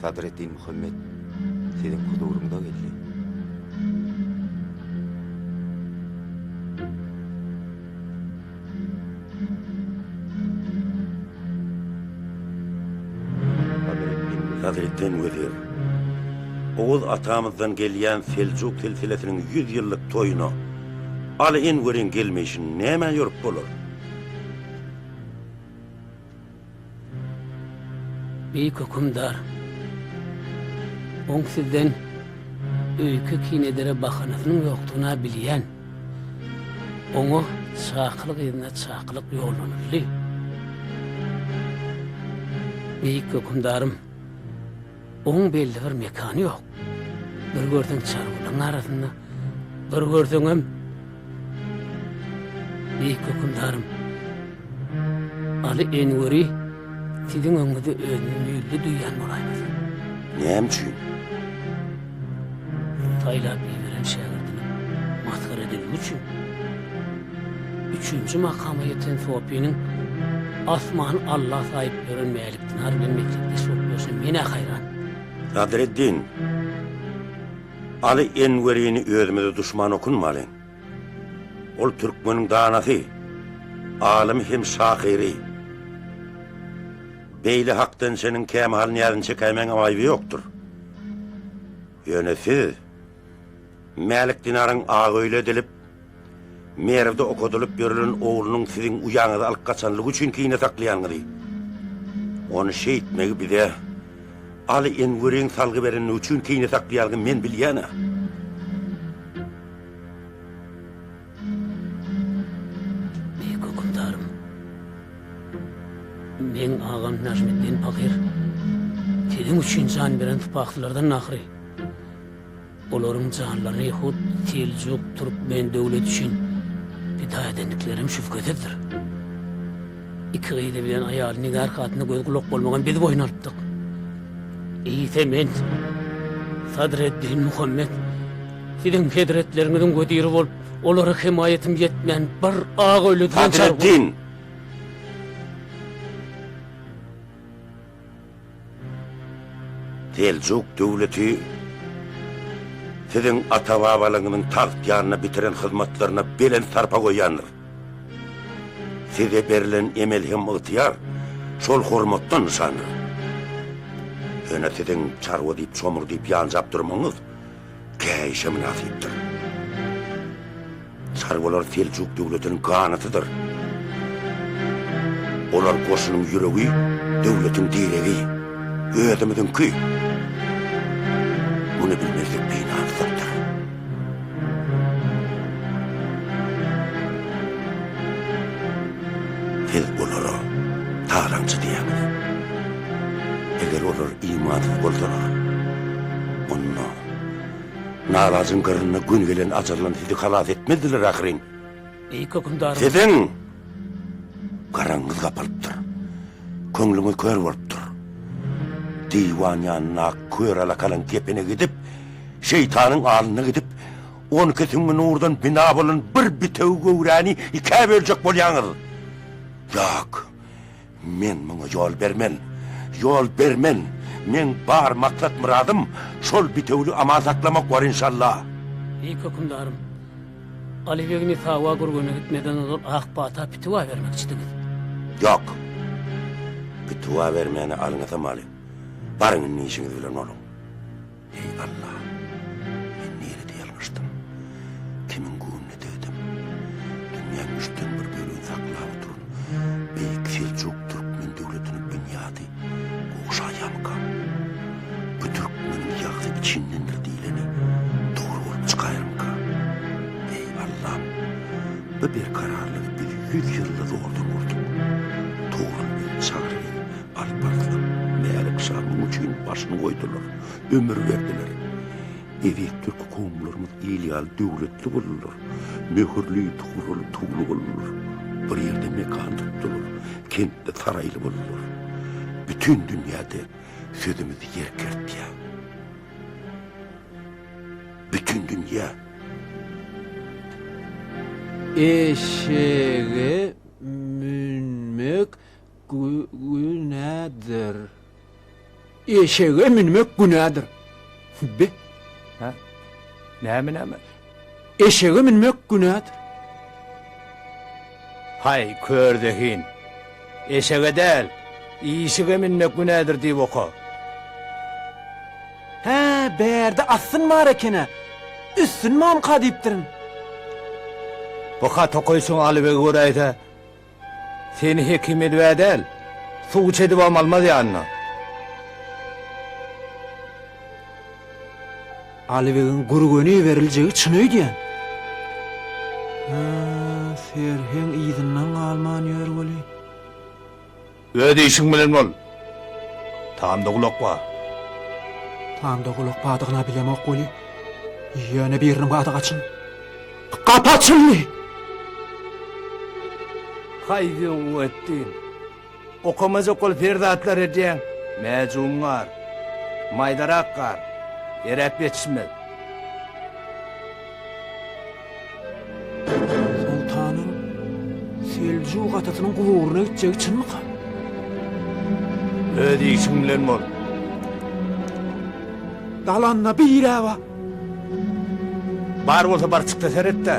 Sadreddin Muhammet siziň huzuryňyza geldi. Sadreddin Wezir, Oguz atamyzdan gelýän Seljuk silsilesiniň 100 ýyllyk toýuna Aly Enweriň gelmeýşini nämä ýorup bolar? Beýik Hökümdar, oň sizden öýke kin edere bahanasynyň ýokdugyny-a bilýän. Oňa çakylyk yzyna çakylyk ýollanyldy. Beýik Hökümdarym! Oň belli bir mekany ýok. Bir görseň çarwalaryň arasynda, bir görseňem Beýik hökümdarym Aly Enweri siziň öňüňizde özüni mülli duýýan bolaýmasyn? Näme üçin? Saýlap iberen şägirdiniň masgara edilmegi üçin. Üçünji makama ýeten Sopynyň asmany Alla saýyp ýören Çynar bilen mekdepdeş bolup ýörşem men-ä haýran. Sadreddin, Aly Enwerini özümize duşman okunmalyň. Ol türkmeniň danasy, alymy hem şahyry. Beýle hakdançynyň kämahal nyýazyny çekäýmäňem aýby ýokdur. Ýöne siz. Mälik Dinaryň Agaöýle edilip, Merwde okadylyp ýörülen oglunyň siziň uýaňyzy alyp gaçanlygy üçin kine saklaýanyňyzy, ony şeýtmegi bize Aly Enweriň salgy berenligi üçin kine saklaýanyňy men bilýän-ä. Beýik hökümdarym, meň agam Najmiddin pahyr siziň üçin jan beren sypaklylardan ahyry. Olaryň janlaryny hut Seljuk türkmen döwleti üçin pida edendikleri hem şübhesizdir. Iki gyzy bilen aýaly Nigar hatyna göz-gulak bolmagam biz boýun alypdyk. Eýse men, Sadreddin Muhammet, siziň hezretleriňiziň weziri bolup, olara hemaýatym ýetmän bir aga ölüden çar boldy. Sadreddin! Seljuk döwleti siziň ata-babalaňyzyň tagt ýanynda bitiren hyzmatlaryna belent sarpa goýýandyr. Size berlen emel hem ygtyýar şol hormatdan nyşandyr. Ýöne siziň çarwa diýip çomur diýip ýanjap durmagyňyz Käýişe mynasypdyr. Çarwalar Seljuk döwletiniň ganatydyr. Olar goşunyň ýüregi, döwletiň diregi, özümiziňki. Muny bilmezlik binamsykdyr. Siz olara talaňçy diýýäňiz. Eger olar imansyz bolsalar, onda nalajyň gyrynda gün gelen ajaldan sizi halas etmezdiler ahyryn. Eý, hökümdaryň! Siziň garaňyňyz gapalypdyr, köňlüňiz kör bolupdyr. Diwan ýanynda ak kör alakalyň kepene gidip, şeýtanyň alnyna gidip, On iki süňňi nurdan bina bolan bir bitewi göwräni ikä böljek bolýaňyz. Ýok, men muňa ýol bermen. Ýol bermen! Meň bar maksat-myradym şol bitewüli aman saklamak bor, enşalla. Beýik hökümdarym, Aly begi Nisawa gürgene gitmeden ozal ak pata pitiwa bermekçidiňiz. Ýok. Pitiwa bermäne alyňysam aly. Baryň indi işiňiz bilen boluň. Eý, Alla! Men nirede ýalňyşdym? Kimiň göwnüne degdim? Dünýäniň üçden bir bölegini saklap oturan beýik Seljuk türkmen döwletiniň binýady gowşaýarmyka? Bu türkmeniň ýagzy içindendir diýleni dogry bolup çykaýarmyka? Eý, Allam! Bu berkararlygy biz ýüz ýylda zordan gurdup, Togrul bizi çagyr eý, Alp Arslan, Mälik şa muň üçin başyny goýdular, ömür berdiler. Eziz türki kowumlarymyz il ýaly döwletli boldular. Möhürli, tugraly, tugly boldular. Bir ýerde mekan tutdular, kentde saraýly boldular. Bütin dünýäde sözümiz ýer kertýär. Bütin dünýä. Eşege münmek Günädir. Eşege münmek günädir. Be. Hä? Näme näme? Eşege münmek günädir. Haý, kör zehin. Eşege däl, işige münmek günädir diýip oka. Hä, bärde assyn bar eken-ä. Üssün mamka diýipdirin. Bu haty okyşyň Alybegi göräýse, Seni hekim edibä däl, suwçy edibem almaz ýanyna. Alybegiň Gürgene iberiljegi çyn öýdýän? Hä, Serheň yzyndan galman ýör weli. Öz işiň bilen bol. Tamda gulak bar. Tamda gulak bardygyna bilemok weli, ýöne biriniň bady gaçyn. Gapy açyldy. Haý Zeweddin! Okamajak ol perzatlar edýäň. Mäjum gar. Maýdarak gar. Eräp ýetişmez. Soltanyň Seljuk atasynyň guburyna gitjegi çynmyka? Öz işiň bilen bol. Dalanda bire bar. Bar bolsa bar çykda seretde.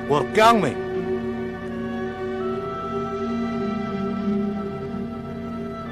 Gorkýaňmy?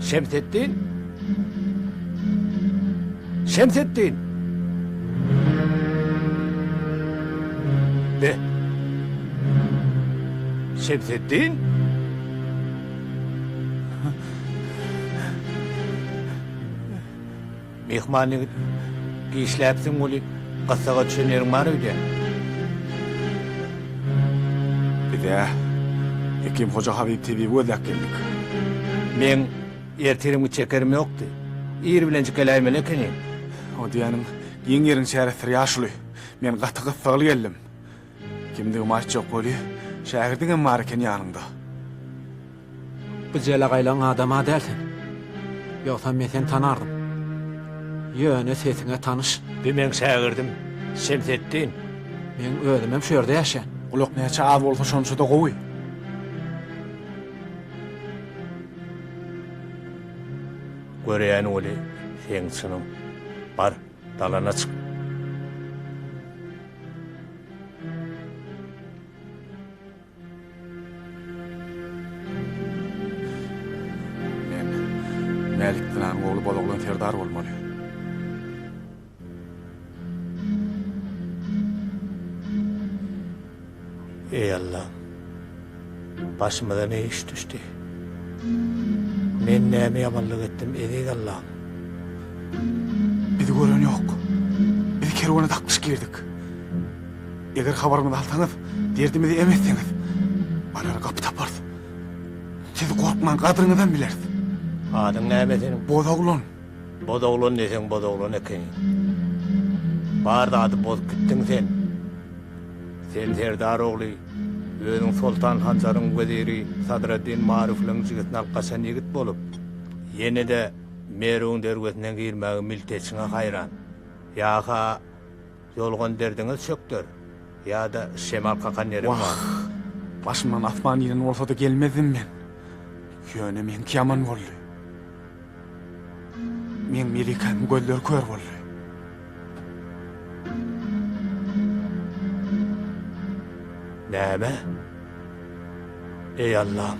Şemsetdin? Şemsetdin! Be! Şemsetdin? Myhman ýigit, Işläpsiň weli, gyssaga düşen ýeriň bar öýdýän. Biz-ä Hekim Hoja Habyp tebibi gözläp geldik. Meň ertirimki çekerim ýokdy. Ir bilenjik geläýmeli ekeniň. O diýýäniň, giň ýeriň çäresdir ýaşuly. Men gaty gyssagly geldim. Kimdigimi aýtjak weli, şägirdiňem bar eken ýanyňda. Bu jelegaýlaň adama däl sen. Ýogsam men seni tanardym. Ýöne sesiň-ä tanyş. Bu meň şägirdim, Şemsetdin. Meň özümem şu ýerde ýaşaýan. Gulak näçe az bolsa şonça-da gowy. Görýän weli, seň çynyň. Bar. Dalana çyk. Men Mälik Dynanyň ogly Bozoglan serdar bolmaly. Eý Allam! Başymyza ne iş düşdi? Men näme ýamanlyk etdim, Eziz Allam? Bizi gören ýok. Biz kerwene daklyş girdik. Eger habarymyzy alsaňyz, derdimizi em etseňiz, barara gapy taparys. Siz gorkmaň, gadryňyzam bileris. Adyň näme seniň? Boz oglan. Bozoglan diýseň bozoglan ekeniň. Bar zady bozup gitdiň sen. Sen serdar ogly, özüň Soltan Hanjaryň weziri Sadreddin Maruflyň jigisini alyp gaçan ýigit bolup, ýene-de Merwiň derwezine girmäge milteçiňe haýran. Ýa-ha, Ýolgan derdiňiz çökder. Ýa-da şemal kakan ýeriň bar. Wah! Başymdan asman inen bolsady gelmezdim men. Ýöne meňki ýaman boldy. Meň Melikämiň gözleri kör boldy. Näme? Eý Allam!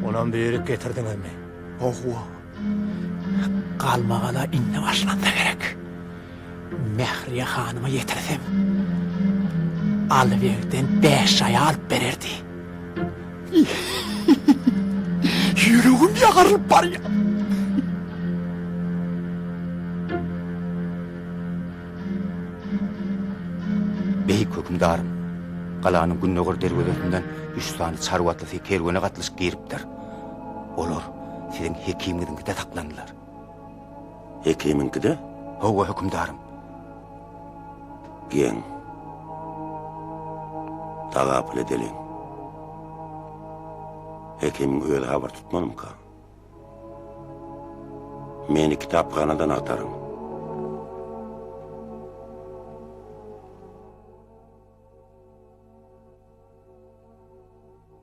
Onam böýrük getirdiňizmi? Howwa. Galmagala indi başlanda gerek. Mähriýe hanyma ýetirsem, Alyberden bäş jaý alyp bererdi. Ýüregim ýarylyp barýar. Beýik hökümdarym, galanyň gündogar derwezesinden üç sany çarwa atlysy kerwene gatlyşyp giripdir. Olar siziň hekimiňiziňkide saklandylar. Hekimiňkide? Hawa, hökümdarym. Geň. Tagapyl edeliň. Hekimiň özi habar tutmalymyka? Meni kitaphanadan agtaryň.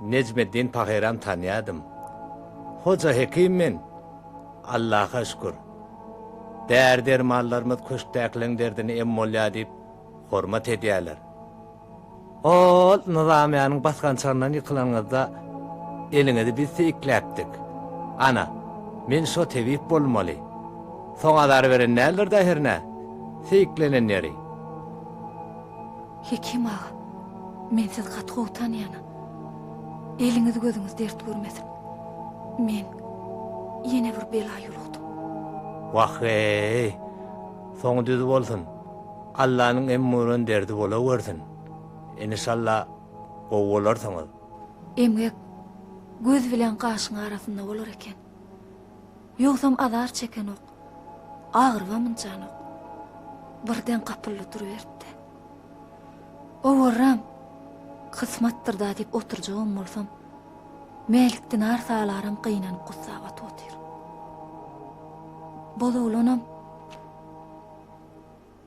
Nejmeddin pahyram tanýadym. Hoja hekim men. Allaha şükür. Däri-dermanlarymyz köşkdäkileň derdini em bolýar diýip, hormat edýärler. Ol nyzamýanyň basgançagyndan ýykylanyňyzda eliňizi biz seýikläpdik. Ana, men şo tebip bolmaly. Soň azar beren däldir-dä hernä, seýiklenenýeri. Hekim aga, men sizi gaty gowy tanýanam. Eliňiz-gözüňiz dert görmesin. Men ýene bir bela ýolukdym. Wah-eý! Soňy düz bolsun. Allanyň em gören derdi bolawersin. Enişalla, gowy bolarsyňyz. Emgek göz bilen gaşyň arasynda bolar eken. Ýogsam azar çekenok, agyrybam ynjanok. Birden gapyldy duruberipdi. Owarram, kysmatdyr-da diýip oturjagam bolsam, Mälik dinar salaram gynanyp gussa batyp otyr. Bozoglanam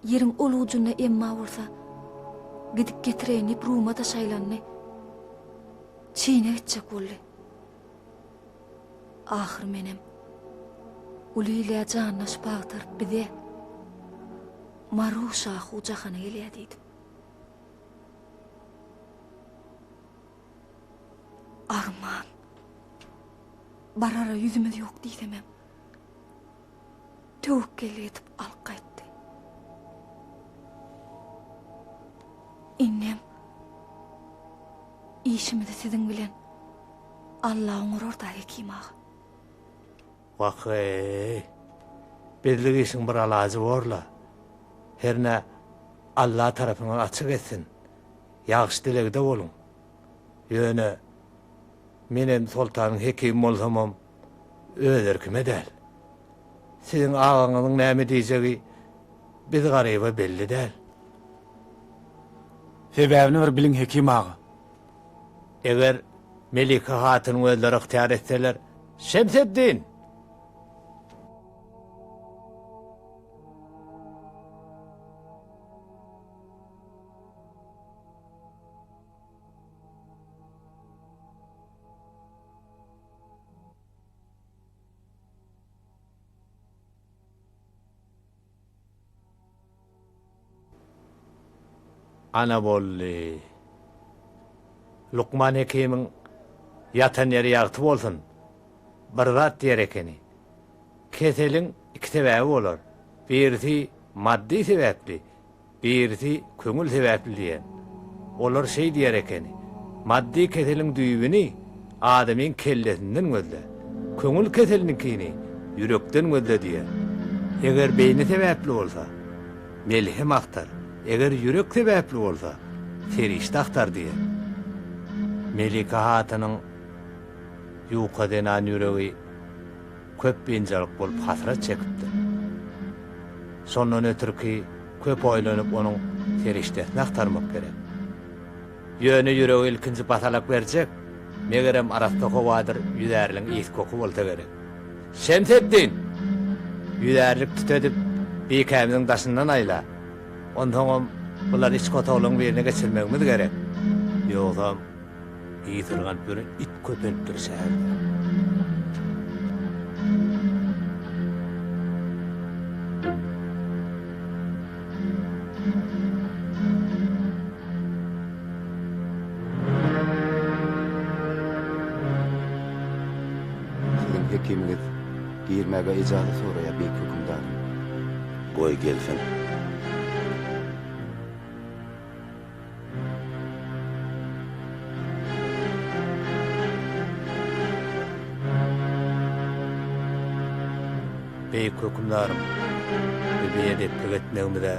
ýeriň ol ujunda emma bolsa gidip getireýin diýip ruma-da şaýlandy. Çine gitjek boldy. Ahyr menem uly ile janlaşyp agtaryp bize Maruşa hu jahana gelýär diýdim. Arman. Barara ýüzümiz ýok diýsemem. töwekgel edip alyp gaýtdy. Indem işimizi siziň bilen Alla oňurar da Hekim aga. Wah-eý! Bizlik işiň bir alajy bor-la. Hernä Alla tarapyňyz açyk etsin. Ýagşy dilegde boluň. Ýöne, menem soltanyň hekimi bolsamam, öz erkime däl. Siziň agaňyzyň näme diýjegi biz Garyba belli däl. Sebäbini bir biliň Hekim aga. Eger Melike hatynyň özleri ygtyýar etseler, Şemseddin! Ana boldy. Lukman hekimiň ýatan ýeri ýagty bolsun, bir zat diýer ekeni, Keseliň iki sebäbi bolar, birisi maddy sebäpli, Birisi köňül sebäpli diýen. Olar şeý diýer ekeni, Maddy keseliň düýbüni adamyň kellesinden gözle, köňül keseliniňkini ýürekden gözle diýer. Eger beýni sebäpli bolsa, melhem agtar, eger ýürek sebäpli bolsa, serişde agtar diýer. Melike hatynyň ýuka zenan ýüregi. köp biynjalyk bolup hasrat çekipdir. Şondan ötürki köp oýlanyp onuň serişdesini agtarmak gerek. Ýöne ýüregi ilkinji basalak berjek, megerem arassa howadyr ýüzärliň ys-koky bolsa gerek. Şemseddin! Ýüzärlik tütedip bikämiziň daşyndan aýla. Onsoňam bulary içki otaglaryň birine geçirmegimiz gerek. Ýogsam. Ýesir galyp ýören it köpelipdir şäherde. Siziň hekimiňiz girmäge ijazat soraýar, beýik hökümdarym. Goý, gelsene. Beýik Hökümdarym, biz biedeplik etmegimize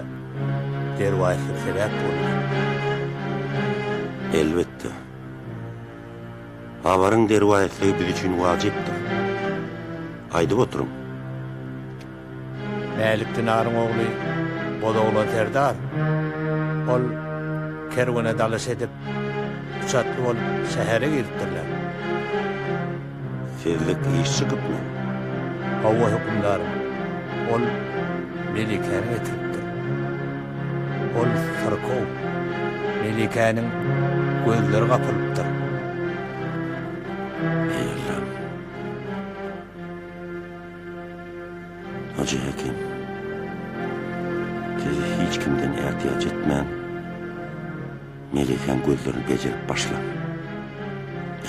derwaýyslyk sebäp bolýar. Elbetde. Habaryň derwaýyslygy biz üçin wajypdyr. Aýdyp oturyň. Mälik Dinaryň ogly Bozoglan serdar. Ol kerwene dalyş edip, üç atly bolup şähere giripdirler. Sizlik iş çykypmy? Hawa, hökümdarym. Ol Melikäni getiripdir. Ol syrkaw. Melikäniň gözleri gapylypdyr. Megerler. Hajy Hekim. Siz hiç kimden ätiýaç etmäň. Melekäň gözlerini bejerip başlaň.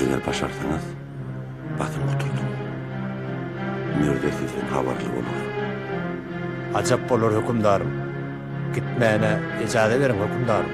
Eger başarsaňyz, batyň gutardyň. Mürze sizden habarly bolar. Ajap bolar, hökümdarym. Gitmäne ejaza beriň, hökümdarym.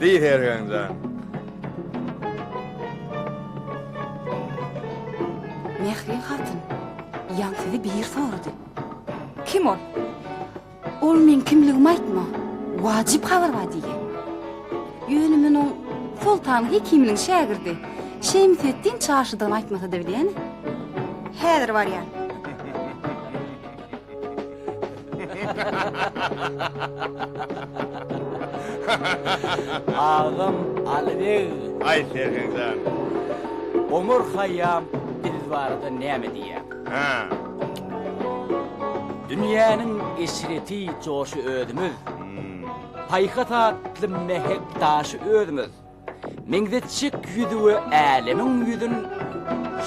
Deý hergäň jan. Mähri hatyn, ýaň sizi biri sorady. Kim ol? Ol meň kimligimi aýtma, wajyp habar bar diýýä. Ýöne men oň Soltan Hekiminiň şägirdi Şemseddin çarşydygyny aýtmasa-da bilýän. Häzir barýan. Agam Alibeg. Aý Sergen jan. Omar Haýýam biz barada näme diýýär? Hä. Dünýäniň eşreti joşy özümiz. Paýhas atly mähek daşy özümiz. Meňzetjek ýüzüge älemiň ýüzün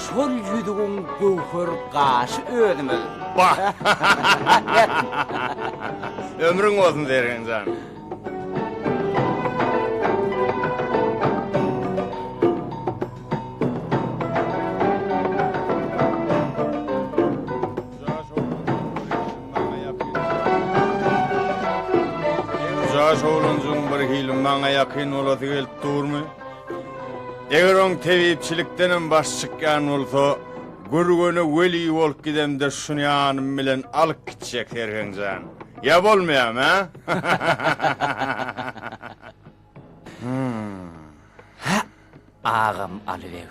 Şol ýüzügiň göwher gaşy özümiz. Bah! Ömrüň bolsun Zergen jan! Jaş oglanjyň bir hili maňa ýakyn bolasy gelip durmy? Eger oň tebipçilikden hem baş çykýan bolsa, Gürgene weli bolup gidemde şuny ýanym bilen alyp gitjek Serheň jan. Ýa bolmaýamy, hä? Agam Aly beg.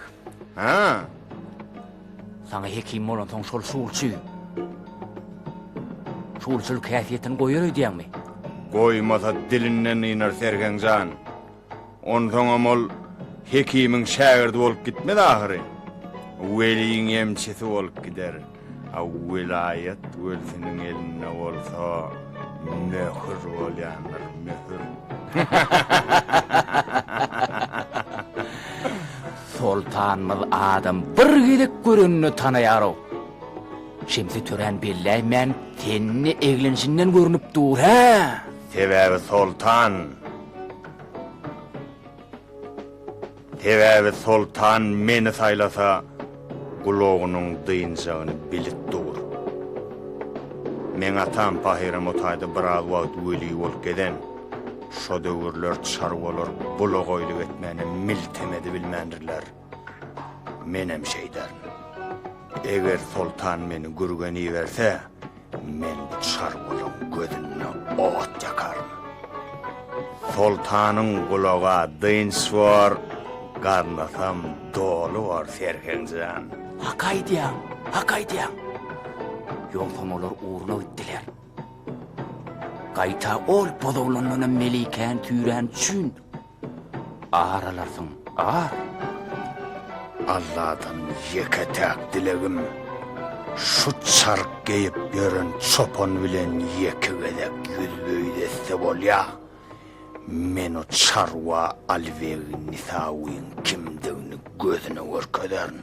Hä? Saňa hekim bolansoň şol sulçy. Sulçylyk häsiýetini goýar öýdýäňmi? Goýmasa dilinden ynar Sergen jan. Onsoňam ol hekimiň şägirdi bolup gitmez ahyry. Weliň emçisi bolup gider. A welaýat welsiniň elinde bolsa möhür bolýandyr, möhür. Soltanymyz adam bir gezek görenine tanaýar-ow. Şemsi töräni belläýmän tenini eglenişinden görnüp dur, hä? Sebäbi soltan. Sebäbi soltan meni saýlasa, gulagynyň dynjagyny bilip dur. Meň atam Pahyramotaýda biraz wagt weli bolup gezen. Şo döwürler çarwalar bulagaýlyk etmäne miltem edibilmändirler. Menem şeýderin. Eger soltan meni gürgen iberse, Men bu çarwalaň gözünde ot ýakaryn. Soltanyň gulaga dynç bor, garnasam doly bor, Sergen jan. Hak aýdýaň, hak aýdýaň. Ýogsam olar ugruna gitdiler. Gaýta ol bozaglandanam Melikäni tüýrän üçin Ar alarsyň, ar! Alladan ýeke-täk dilegim, şu çark geýip ýören çopan bilen ýeke gezek ýüzbe-ýüz etse bolýa. Men o çarwa Alibegi Nisawyň kimdigini gözüne görkezerin.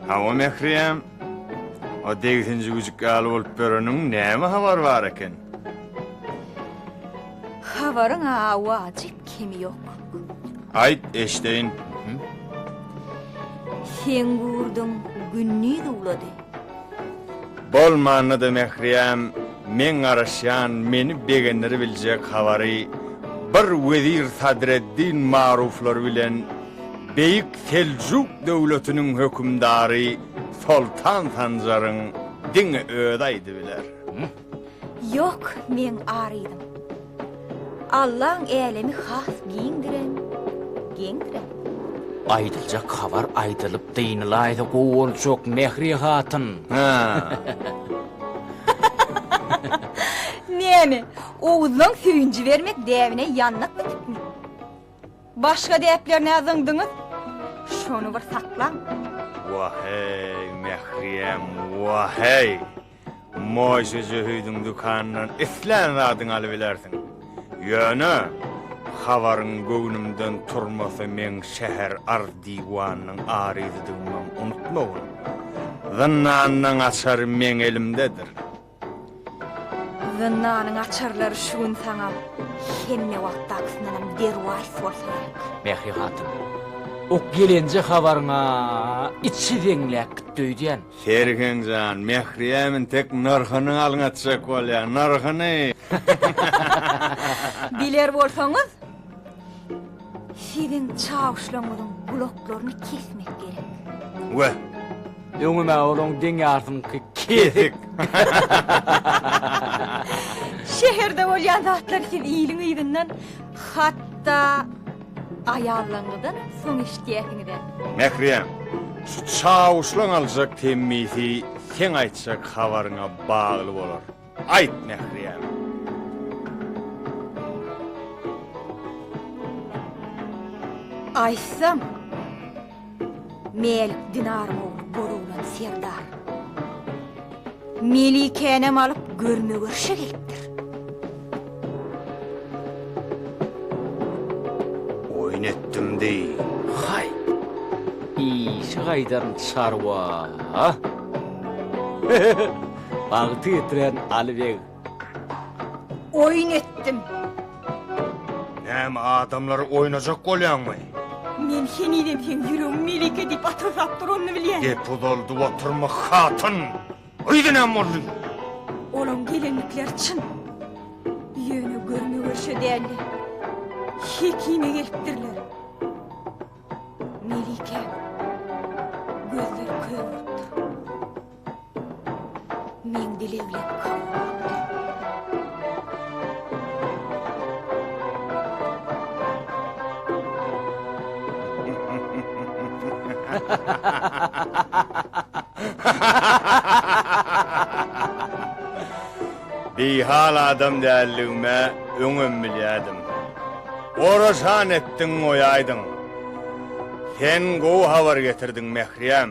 Hawa Mährem. O degsinji güjük ýaly bolup ýöreniň näme habar bar eken? Habaryň awajy kemi ýok. Aýt eşdeýin. Sen gurduň gündiz uwlady. Bolmanda-da Mähriýem meň garaşýan meni begendiribiljek habary bir wezir Sadreddin Maruflar bilen beýik Seljuk döwletiniň hökümdary Soltan Sanjaryň diňe özi aýdybiler. Ýok, meň ar yzym. Allaň älemi has giňdirem, geňdirem. Aýdyljak habar aýdylyp dynylaýsa gowy boljak, Mähri hatyn. Näme, Oguzlaň söýünji bermek däbine ýandak bitipmi? Başga däplerine-ä zyňdyňyz. Şony bir saklaň. Waheý, Mähriýem, waheý! Moýşe Jöhüdiň dükanyndan islän zadyňy alybilersiň. Ýöne, habaryň göwnümden turmasy meň şäher arz-diwanynyň aryzydygymam unutmagyn. Zyndanyň açary meň elimdedir. Zyndanyň açarlary şu gün saňa hemme wagtdakysyndanam derwaýys bolsa gerek. Mähri hatyn. Ok ýelenje habaryňa içi zeňläp gitdi öýdýän. Sergen jan, Mähriýem intek nyrhyny alňatjak bolýa, nyrhyny! Biler bolsaňyz, siziň çawuşlaňyzyň gulaklaryny kesmek gerek. Weh! Öňüm-ä olaň deň ýarsyňky kesik! Şäherde bolýan zatlary siz iliň yzyndan hatda Aýallaňyzdan soň eşitýäsiňiz-ä. Mährem, şu çawuşlaň aljak temmisi seň aýtjak habaryňa bagly bolar. Aýt, Mährem! Aýtsam. Mel Dinaryň ogly Bologlan serdar Melikänem alyp görme-görşe gelipdir. Oýun etdim deý, haý! Işi gaýdaryn çarwa! Bagty getiren Aly beg Oýun etdim. Näme adamlary oýnajak bolýaňmy? Men henizem sen ýüregim melike diýip atyrsap duranyny bilýän. Gep uzaldyp oturma hatyn. Öýde näme boldy? Olaň gelenlikleri çyn. Ýöne görme görşe däldi. Hekime gelipdirler. Melike gözleri kör bolupdyr. Meň dileglerim kabul bolupdyr. Bihal adam däldigime öňem bilýärdim. Oraşan etdiň goýaýdyň. Sen gowy habar getirdiň, Mährýem.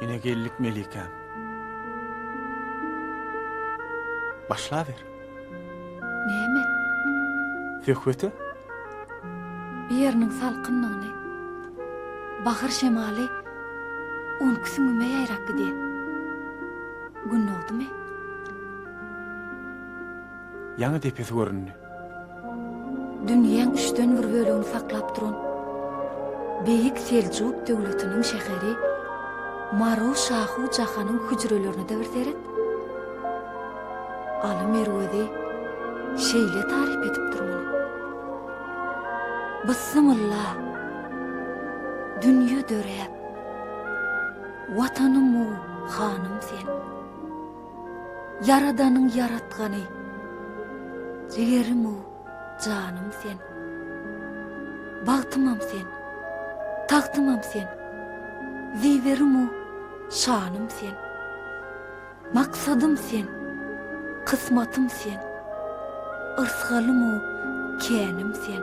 Ine geldik Melikäm. Başlaber. Näme? Söhbete? Bir ýeriniň salkynlygyny, bahar şemaly unki süňňüme ýaýrap gidýär. Gün dogdumy? Ýaňy depesi göründi. Dünýäň üçden bir bölegini saklap duran beýik Seljuk döwletiniň şäheri Maru Şahu Jahanyň hüjrelerine-de bir seret. Aly Merwezi şeýle taryp edip durmaly. Byssymylla! Dünýe döräp, Watanym-u hanym sen! Ýaradanyň ýaratgany, jigerim-u janym sen. Bagtymam sen, tagtymam sen, ziberim-u şanym sen. Maksadym sen, kysmatym sen, yrsgalym-u känim sen.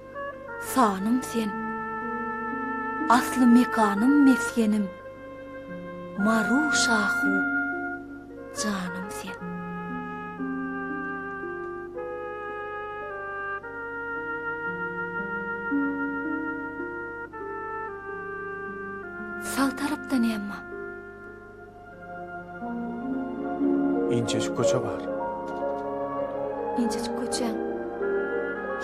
Sanym sen. Asly mekanym mesgenim Maru şahu janym sen. Sag tarapdan emma. Inçejik köçe bar. Inçejik köçäň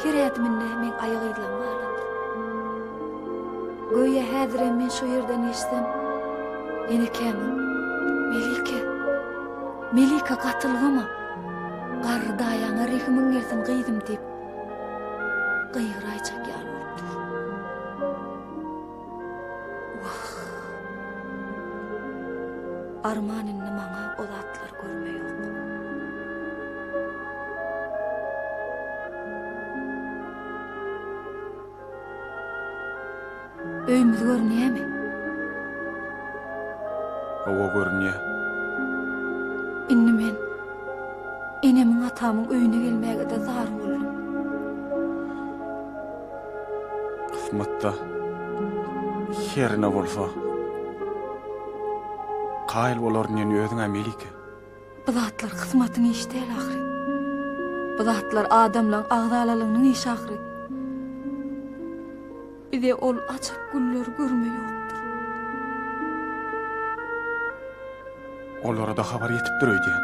her ädiminde meň aýak yzlarym galanda. Göýä häzirem men şu ýerden geçsem, enekämiň, Melike, Melike gatylgama, garry daýaňa rehimiň gelsin gyzym diýip, gygyraýjak ýaly bolup dur. Wah! Arman indi maňa o zatlary görme ýok. Öýümiz görünýämi? Hawa, görünýär. Indi men enemiň-atamyň öýüne gelmäge-de zar boldum. Kysmatda her ne bolsa kaýyl bolaryn diýen özüňä Melike. Bu zatlar kysmatyň işi däl ahyry. Bu zatlar adamlaň agzalalygynyň işi ahyry. Bize ol ajap gülleri görme ýokdur. Olara-da habar ýetipdir öýdýän.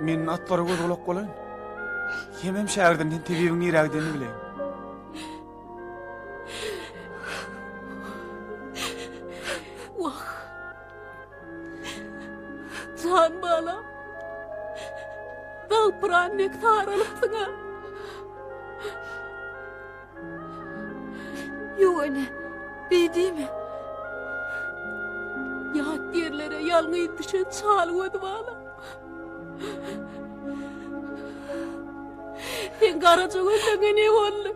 Men atlara göz gulak bolaýyn. Hemem şägirdimden tebibiň nirägdenini bileýin. Jan balam. Galpyran dek saralypsyň-a. Ýöne, beýdime. Ýat ýerlere ýalňyz düşen çal göz balam. Sen garaja gözleňe ne boldy?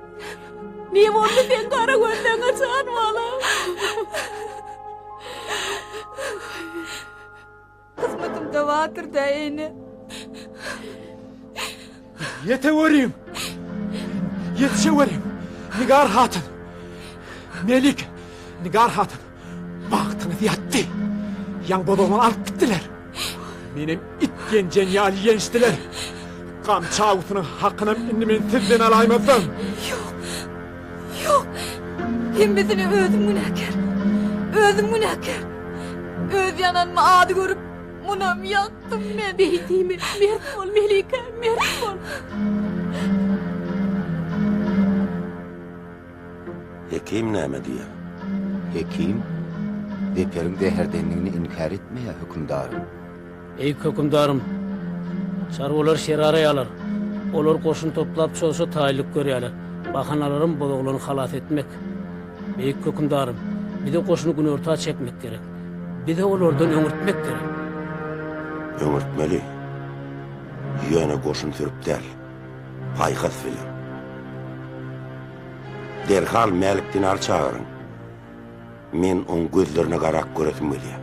Ne boldy sen gara gözleňe jan bala? Hyzmatym dawatyr da ene. Ýeteweriň! Ýetişeweriň! Nigar hatyn! Melike! Nigar hatyn! Bagtyňyz ýatdy! Ýaň bozagymyzy alyp gitdiler! Menem it ýenjen ýaly ýençdiler! Gamçy awusynyň hakynam indi men sizden alaýmazdan! Ýok! Ýok! Hemmesine özüm günäkär! Özüm günäkär! Öz ýananymy ady görüp. Munam ýakdym men. Beýdimi, mert bol, Melike, mert bol! Hekim näme diýýär? Hekim, Zeperiň zäherdendigini inkär etmeýär, hökümdarym. Beýik hökümdarym, çarwalar şeraraýarlar. Olar goşun toplap çoza taýynlyk görýärler. Bahanalaram bozoglyny halas etmek. Beýik hökümdarym, bize goşuny günorta çekmek gerek. Bize olardan öňürtmek gerek. Öňürtmeli. Ýöne goşun sürüp däl. Paýhas bilen. Derhal Mälik Dinary çagyryň. Men oň gözlerine garap göresim gelýär.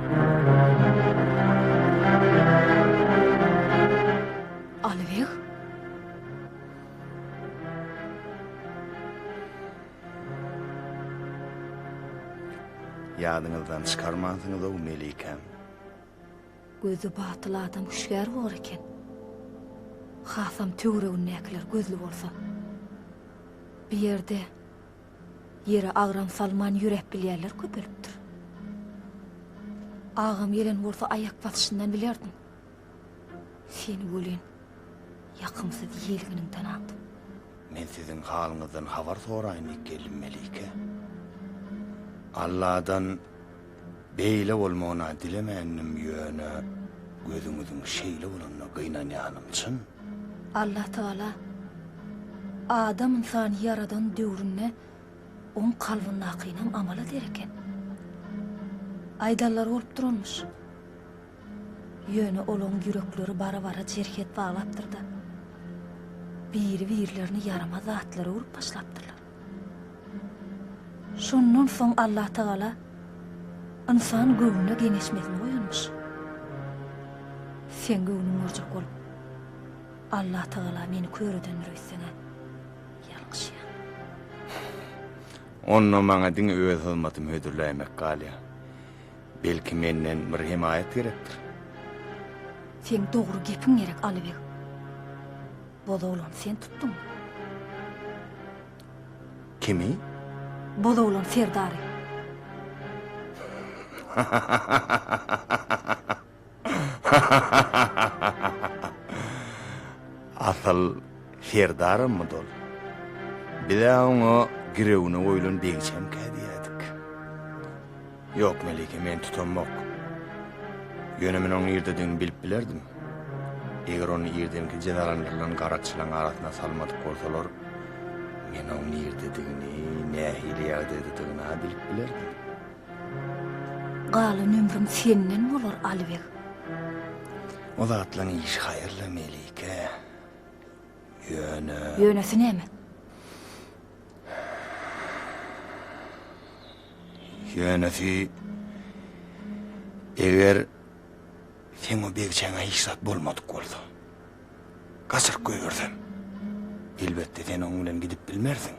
Alybeg? Ýadyňyzdan çykarmansyňyz-ow, Melikäm. Gözi batyl adam hüşgär bor eken. Hasam töweregindäkiler gözli bolsa. Bu ýerde Ýere agram salman ýöräp bilýänler köpelipdir. Agam gelen bolsa aýak basyşyndan bilerdiň. Seni welin, ýakymsyz ýelginiňden aldym. Men siziň halyňyzdan habar soraýyn diýip geldim, Melike. Alladan Beýle bolmagyna dilemändim ýöne gözüňiziň şeýle bolanyna gynanýanym çyn. Allah Tagala Adam ynsany ýaradan döwründe oň kalbyndakynam amala der eken. Aýdanlary bolup duranmyş. Ýöne olaň ýürekleri bara-bara jerhet baglapdyrda, biri-birlerini ýaramaz zatlar görüp başlapdyrlar. Şondan soň Allatagala ynsan göwnüne geňeşmesini goýanmyş. Seň göwnüň görjek bolup, Allatagala meni kör edendir öýtseň-ä. Ýalňyşýaň. Onda maňa diňe öz hyzmatymy hödürläýmek galýar. Belki menden bir hemaýat gerekdir? Seň dogry gepiň gerek, Alybeg. Bozoglany sen tutduň. Kimi? Bozoglan serdary. Asyl serdarymmy dol? Biz-ä oňa girewine goýlan begçemkä diýýädik. Ýok, Melike, men tutanmok. Ýöne men onuň irdedigini bilip bilerdim. Eger ony irdenki jezalandyrylan garaçylaryň arasyna salmadyk bolsalar, men onuň irdedigini, nähili ýagdaýdadygyny-a bilip bilerdim. Galan ömrüm senden bolar, Alibeg. O zatlaryň işi haýyrly, Melike. Ýöne. Ýönesi näme? Ýönesi, eger seň o begçäňe hiç zat bolmadyk bolsa, gaçyryp goýbersem, elbetde sen oň bilen gidip bilmersiň.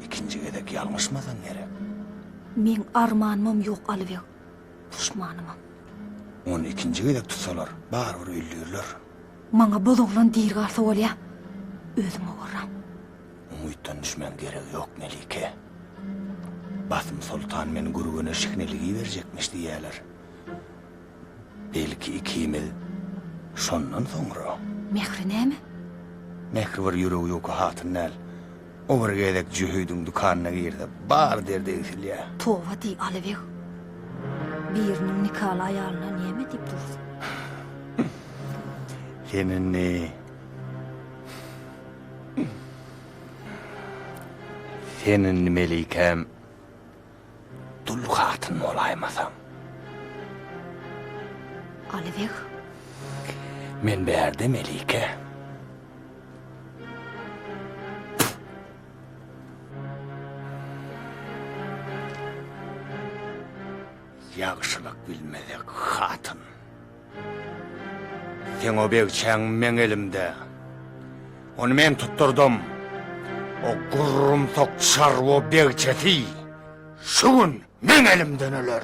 Ikinji gezek ýalňyşmasaň gerek. Meň armanymam ýok, Alybeg, duşmanymam. Ony ikinji gezek tutsalar, barybir öldürler. Maňa bozoglan diri galsa bolýa, özüme gorram. Umytdan düşmäň geregi ýok Melike. Basym soltan meni Gürgene şikneligi berjekmiş diýýäler. Belki ikimiz şondan soňra. Mähri näme? Mähri bir ýüregi ýuka hatyn däl. O bir gezek Jöhüdiň dükanyna girse bar derdi egsilýä. Toba diý Alybeg. Biriniň nikaly aýalyna näme diýip dursun. Sen indi. Sen indi melikäm dul hatyn bolaýmasaň. Alybeg. Men bärde melike. Ýagşylyk bilmezek hatyn. Seň o begçäň meň elimde. Ony men tutdurdym. O gurrumsak çarwa begçesi şu gün meň elimden öler.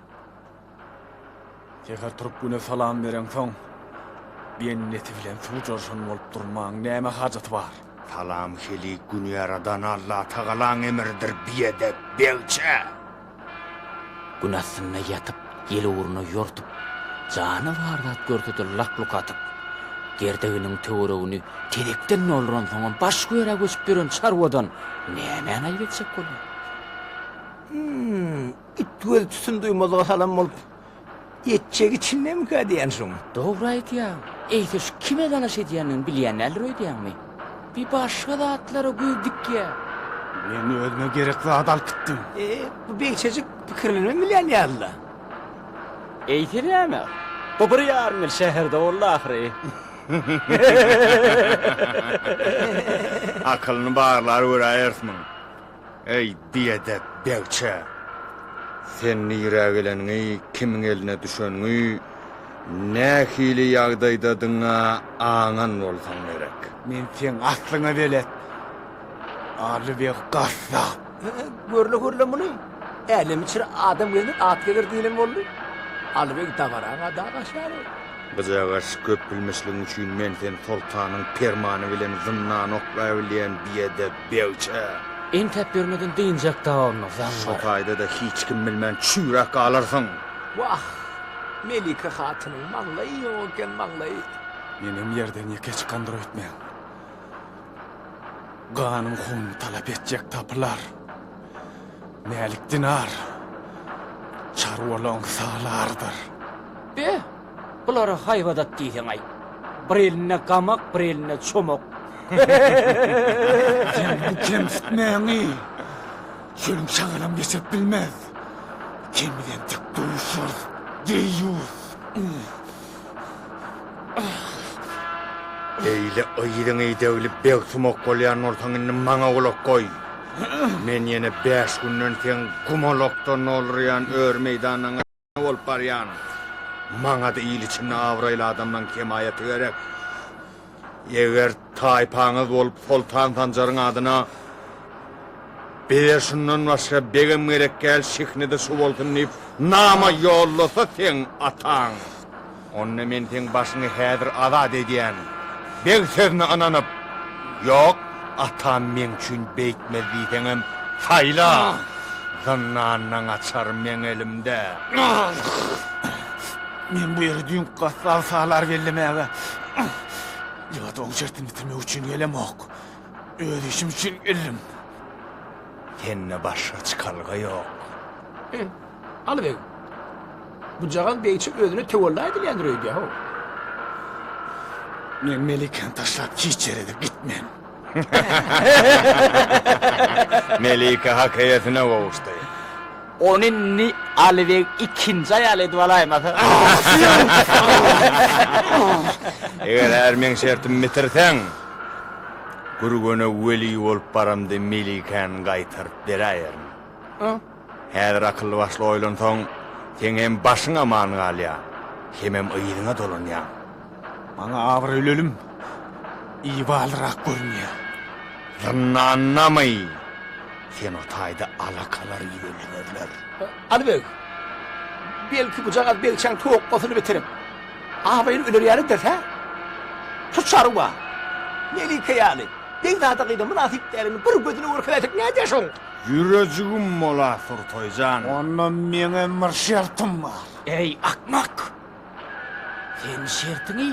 Säher turup güne salam bereňsoň, benneti bilen suw jarşan bolup durmaň näme hajaty bar? Salam helik gün ýaradan Allatagalaň emridir biedep begçe! Gün astynda ýatyp, ýel ugruna ýortup, jany bar zat görsedir lak-luk atyp, gerdeginiň töweregini tezekden dolduransoňam başga ýere göçüp ýören çarwadan nämäni aýyp etjek bolýar? It göz tutun duýmazlyga salan bolup, etjegi içindemikä diýen şoň. Dogry aýdýaň. Eýse şu kime dalaş edýändigini bilýän däldir öýdýäňmi? Bir başga zatlara göz dikýär. Men özüme gerek zady alyp gitdim. E, bu beýçejik pikirlenibem bilýän ýaly-la. Eýse näme? Bu bir ýarym ýyl şäherde boldy ahyry. Akylyny barlary göräýeris muň. Eý, biedep begçä! Sen nirä geleniňi, kimiň eline düşeniňi, nähili ýagdaýdadygyňy-a aňan bolsaň gerek. Men seň aslyňa belet, Aly beg gassap! Görle, görle muny! Älem içre adam gezer, at gezer diýlen boldy. Aly beg dabaraňa dag aşýar-ow! Gyjagaş, köpbilmişligiň üçin men seni soltanyň permany bilen zyndana oklaýbilýän biedep! Begçä. Entäp ýörmeden dynjak dawamyna zaň bar. Şo taýda-da hiç kim bilmän çüýräp galarsyň. Wah, Melike hatynyň maňlaýy ýok eken, maňlaýy. Menem ýerden ýeke çykandyr öýtmäň. Ganyň hunuň talap etjek tapylar. Mälik dinar. Çarwalaň salardyr. Be! Bulara haýbadat diýseň-aý. Bir elinde gamak, bir elinde çomak. Sen bu kemsitmäňi çölüň şagalam geçirip bilmez. Sen bilen dik duşarys, deýýus! Beýle yzyňy döwlüp begsumak bolýan bolsaň indi maňa gulak goý. Men ýene bäş günden seň gumalakdan doldurýan ör meýdanyňy. bolup barýan. Maňada il içinde abraýly adamlaň kemaýaty gerek. Eger taýpaňyz bolup Soltan Sanjaryň adyna Bize şundan başga begem gerek däl, şiknede şu bolsun diýip nama ýollasa seň ataň. Onda men seň başyňy häzir azat edýän. Beg sözüne ynanyp, Ýok, atam meň üçin beýtmez diýseňem, saýla, zyndandan gaçar meň elimde. Men bu ýere düýn gassap salar bellemäge ýa-da oň şertini bitirmek üçin gelemok. Öz işim üçin geldim. Sende başga çykalga ýok. Alybeg. Bujagaz begçi özüne töwella edilýändir öýdýär-ow. Men Melikäni taşlap hiç ýere-de gitmen. Melike hak eýesine gowuşdy. Ony indi Alybeg ikinji aýaly edip alaýmasa. Eger her meň şertimi bitirseň, Gürgene weli bolup baramda Melikäni gaýtaryp beräýerin. Häzir akylly-başly oýlansaň, seň hem başyň aman galýar, hemem yzyňa dolanýaň. Maňa abraýly ölüm ibalyrak görünýär. Zyndandamy? Sen o taýda alakalar ýölemezler. Aly beg, belki bujagaz begçäň tokgasyny bitirip, abraýly öler ýalydyr-hä? Şu çarwa, Melike ýaly, begzada gyza mynasyp dälini bir gözüne görkezäýsek nädýär şoň? Ýürejigim bola Surtaý jan. Onda meňem bir şertim bar. Eý, akmak! Sen şertiňi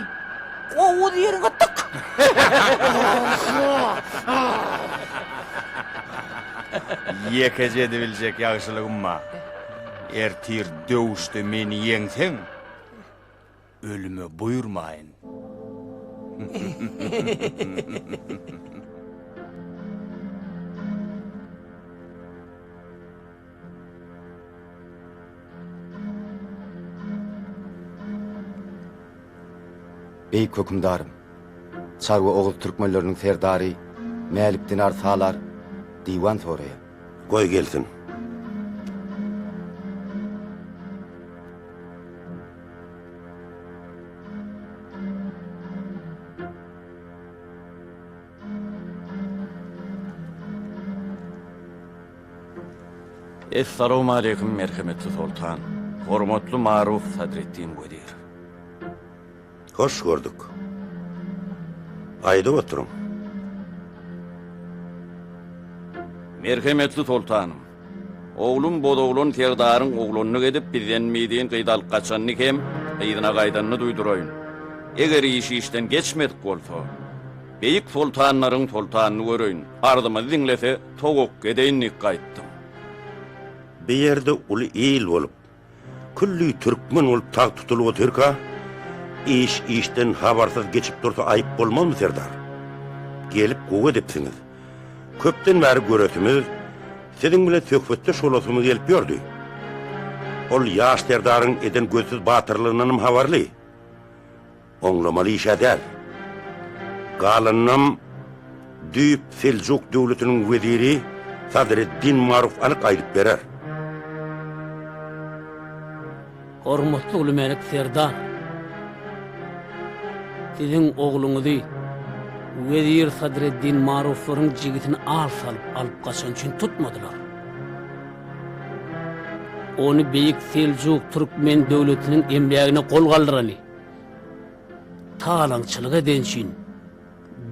gowuz ýeriňe tyk! Ýekeje edibiljek ýagşylygym bar. Ertir döwüşde meni ýeňseň. ölüme buýurmaýyn. Beýik hökümdarym, Çarwa oguz türkmenleriniň serdary Mälik Dinar Salar diwan soraýar. Goý gelsin. Essalowmaleýkim, merhemetli Soltan, hormatly Maruf Sadreddin wezir. Hoş gördük. Aýdyp oturyň. Merhemetli Soltanym. Oglum bozoglan serdaryň oglanlyk edip bizden mizin gyz alyp gaçanyny hem gyzyna gaýdanyny duýduraýyn. Eger iş işden geçmedik bolsa, beýik soltanlaryň soltanyny göreýin, arzymyzy diňlese, towakga edeýin diýip gaýtdym. Bu ýerde uly il bolup, Külli türkmen bolup tagt tutulyp otyrka, iş işden habarsyz geçip dursa aýyp bolmazmy serdar? Gelip gowy edipsiňiz. Köpden bäri göresimiz, siziň bilen söhbetdeş bolasymyz gelip ýördi. Ol ýaş serdaryň eden gözsüz batyrlygyndanam habarly. Oňlamaly işe däl. Galanynam düýp Seljuk döwletiniň weziri Sadreddin Maruf anyk aýdyp berer. Hormatly Uly Mälik Serdar! Siziň ogluňyzy wezir Sadreddin Maruflaryň jigisini al salyp alyp gaçan üçin tutmadylar. Ony beýik Seljuk türkmen döwletiniň emlägine gol galdyrany, Talaňçylyk eden üçin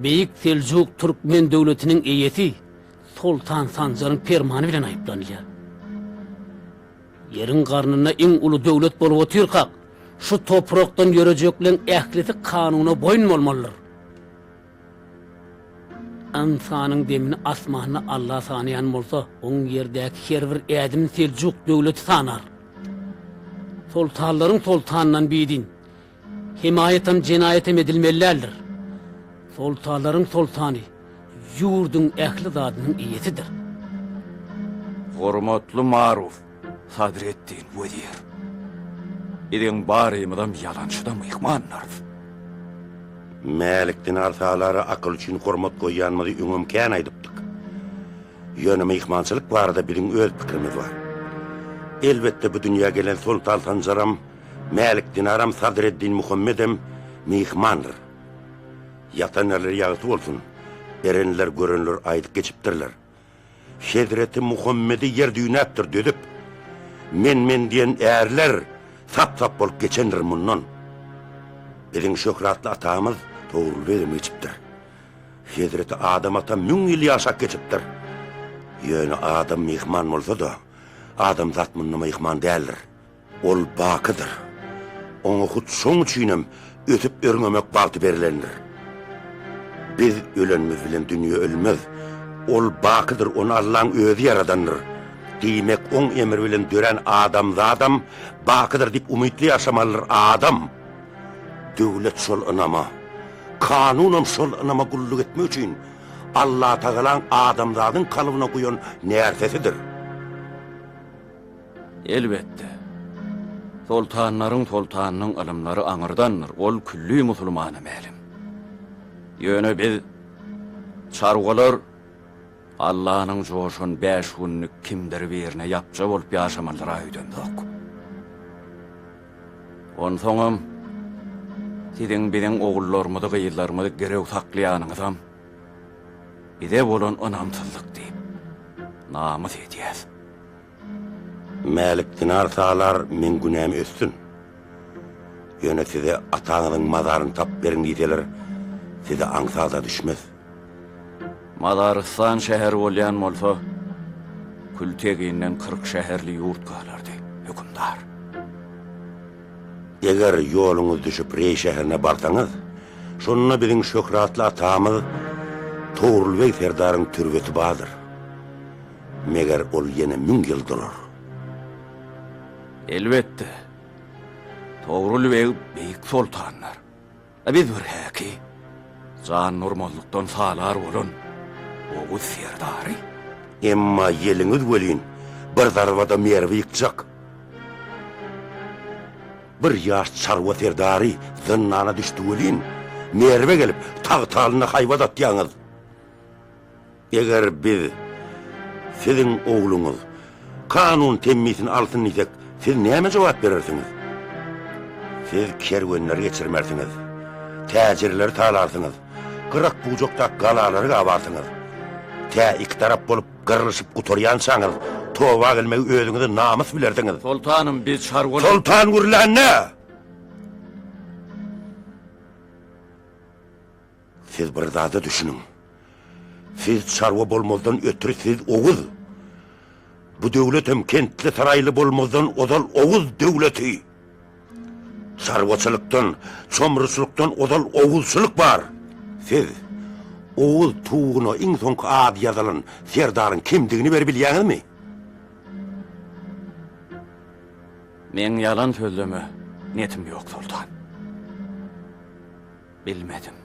Beýik Seljuk Türkmen döwletiniň eýesi Soltan Sanjaryň permany bilen aýyplanylýar. Ýeriň garnynda iň uly döwlet bolup otyrkak, şu toprakdan ýörejekleň ählisi kanuna boýun bolmalydyr. Ynsanyň demini asmanda Alla sanaýan bolsa, oň ýerdäki her bir ädimini Seljuk döwleti sanar. Soltanlaryň soltanyndan bidin, hemaýatam, jenaýatam edilmeli däldir. Soltanlaryň soltany ýurduň ähli zadynyň eýesidir. Hormatly Maruf! Sadreddin wezir, biziň barymyzam ýalançyda myhmanlarys. Mälikden arsalara akyl üçin hormat goýýanymyzy öňem kän aýdypdyk. Ýöne myhmançylyk barada biziň öz pikirimiz bar. Elbetde, bu dünýä gelen Soltan Sanjaram, Mälik Dinaram, Sadreddin Muhammedem myhmandyr. Ýatan ýerleri ýagty bolsun, erenler, görenler aýdyp geçipdirler. Hezreti Muhammedi ýer düýnäpdir düzüp, men-men diýen ärler sap-sap bolup geçendir mundan. Biziň şöhratly atamyz Togrul begem geçipdir. Hezreti Adam ata müň ýyl ýaşap geçipdir. Ýöne Adam myhman bolsa-da, adamzat munda myhman däldir. Ol bakydyr. Oňa hut şoň üçinem ösüp-örňemek bagty berlendir. Biz ölenimiz bilen dünýe ölmez. Ol bakydyr, ony Allaň özi ýaradandyr. Diýmek, oň emri bilen dörän adamzadam bakydyr diýip umytly ýaşamalydyr adam. Döwlet şol ynama, kanunam şol ynama gulluk etmek üçin Allatagalaň adamzadyň kalbyna guýan närsesidir. Elbetde, soltanlaryň soltanynyň ylymlary aňyrdandyr, ol külli musulmana mälim. Ýöne biz, çarwalar, Allanyň joşan bäş günlük kimdir birine ýapja bolup ýaşamalydyr-a öýdemzok. Onsoňam, siziň biziň ogullarymyzy-gyzlarymyzy girew saklaýanyňyzam bize bolan ynamsyzlyk diýip, namys edýäs. Mälik dinar salar, meň günäm ötsün. Ýöne size ataňyzyň mazaryny tapyp beriň diýseler, size aňsat-a düşmez. Mazarystan şäher bolýan bolsa, kül-teginden kyrk şäherli ýurt galardy, hökümdar. Eger ýoluňyz düşüp Reý şäherine barsaňyz, şonda biziň şöhratly atamyz Togrul beg serdaryň türbesi bardyr. Meger ol ýene müň ýyl durar. Elbetde. Togrul beg beýik soltandyr. A biz bir häki, jan urmazlykdan salar bolan oguz serdary. Emma ýeliňiz welin, bir zarbada Merwi ýykjak. Bir ýaş çarwa serdary zyndana düşdi welin, Merwe gelip, tagtalynda haýbat atýaňyz. Eger biz siziň ogluňyz kanun temmisini alsyn diýsek, siz näme jogap berersiňiz? Siz kerwenleri geçirmersiňiz, täjirleri talarsyňyz, gyrak-bujakdaky galalary gabarsyňyz. Tä iki tarap bolup gyrlyşyp gutarýançaňyz, toba gelmegi özüňize namys bilersiňiz. Soltanym, biz çarwalar. Soltan gürlände! Siz bir zada düşüniň. Siz çarwa bolmazdan ötri siz Oguz. Bu döwletem kentli saraýly bolmazdan ozal Oguz döwleti. Çarwaçylykdan, çomruçylykdan ozal Oguzçylyk bar. Siz Oguz tugugyna iň soňky ady ýazylan serdaryň kimdigini bir bilýäňizmi? Meň ýalan sözleme netim ýok, soltan. Bilmedim.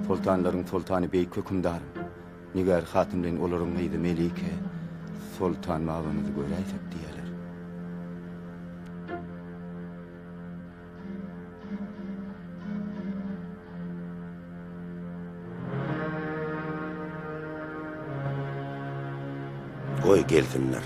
Soltanlaryň soltany beýik hökümdarym. Nigar hatyn bilen olaryň gyzy Melike soltan babyňyzy göräýsek diýýärler. Goý gelsinler.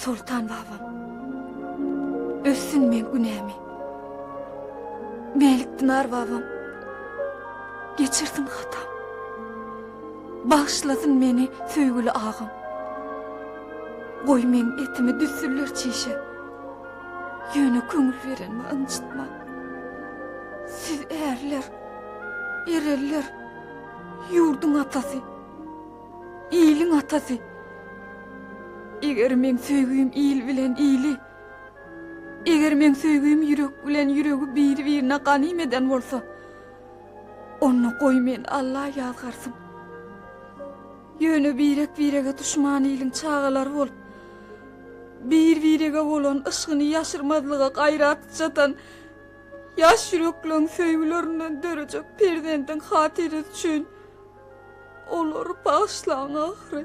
Soltan babam. Össün men günämi. Melik Dinar babam. Geçirsin hatam. Bağışlasın meni söýgüli ağam. Goý meň etimi düssünler çişe. Ýöne köňül berenimi ynjytmaň. Siz ärler, ereller, ýurduň atasy, iliň atasy. Eger meň söýgim il bilen ili, eger meň söýgim ýürek bilen ýüregi biri-birine ganym eden bolsa, onda goý meni Alla ýazgarsyn. Ýöne birek-birege duşman iliň çagalary bolup, bir-birege bolan yşgyny ýaşyrmazlyga gaýrat çatan ýaş ýürekleň söýgülerinden dörejek perzendiň hatyrasy üçin olary bagyşlaň ahyry.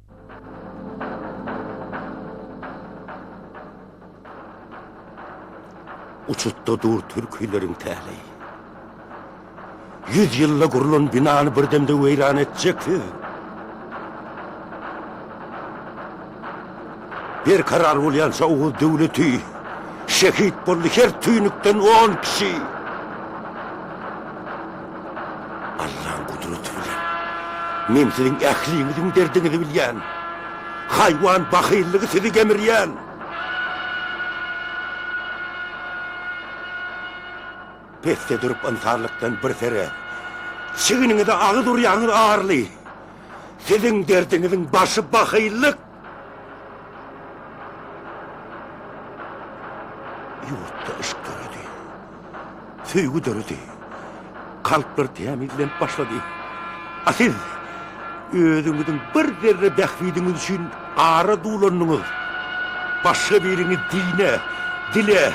Uçutda dur türkileriň täleýi. Ýüz ýylda gurlan binany bir demde weýran etjeksiz. Bir karar bolýança Oguz döwleti şehit boldy her tüýnükden on kişi. Allaň gudraty bilen, men siziň ähliňiziň derdiňizi bilýän. Haýwan bahyllygy sizi gemirýän. Pesde durup ynsanlykdan bir sere, çiginiňize agyz urýaňyz arly. Siziň derdiňiziň başy bahyllyk. Ýurtda yşk döredi. Söýgi döredi. Kalplar tämizlenip başlady. A siz özüňiziň bir zerre bähbidiňiz üçin ara dulandyňyz. Başga biriňi dine, dile,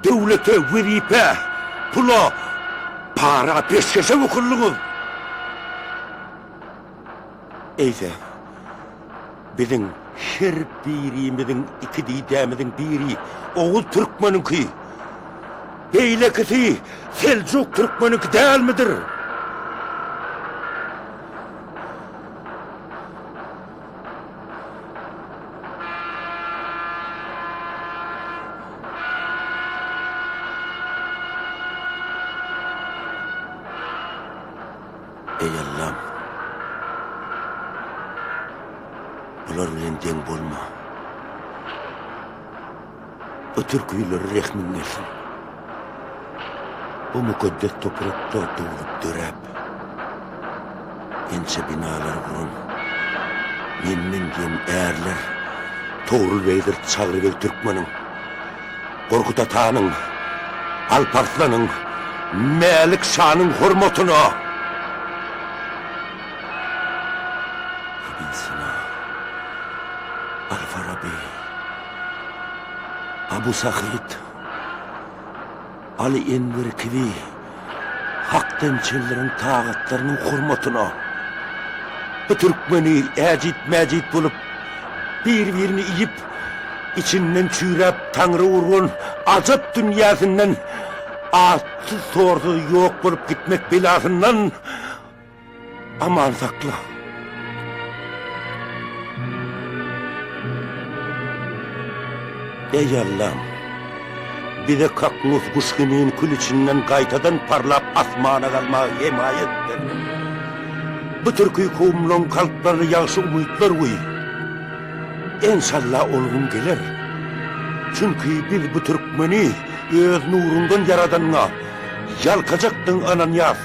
döwlete, wezipä, pula, para, peşgeşe wykyldyňyz. Eýse, biziň her birimiziň iki didemiziň biri oguz türkmeniňki, beýlekisi seljuk türkmeniňki dälmidir? Eý Allam! Bular bilen deň bolma. Bu türküleri rehmiň gelsin. Bu mukaddes toprakda doglup döräp, ençe binalar guran, menden diýen ärler, Togrul beýdir, Çagry beg türkmeniň. Gorkut atanyň, Alp Arslanyň, Mälik şanyň hormatyna! Ibn Sina, Al-Faraby, Abu Sahyt. Aly Enwer kibi hakdan çeldiren tagatlarynyň hormatyna bu türkmeni äjit-mäjit bolup, bir-birini iýip, içinden çüýräp taňry urgan ajap dünýäsinden atsyz-torsuz ýok bolup gitmek belasyndan Aman sakla. Eý Allam, bize kaknus guş kimin kül içinden gaýtadan parlap asmana galmagy hemaýat ber. Bu türki kowumlaryň kalplaryna ýagşy umytlar guý. Enşalla ol gün geler. Çünki biz bu türkmeni öz nuruňdan ýaradanyňa ýalkajakdygyňy ynanýarys.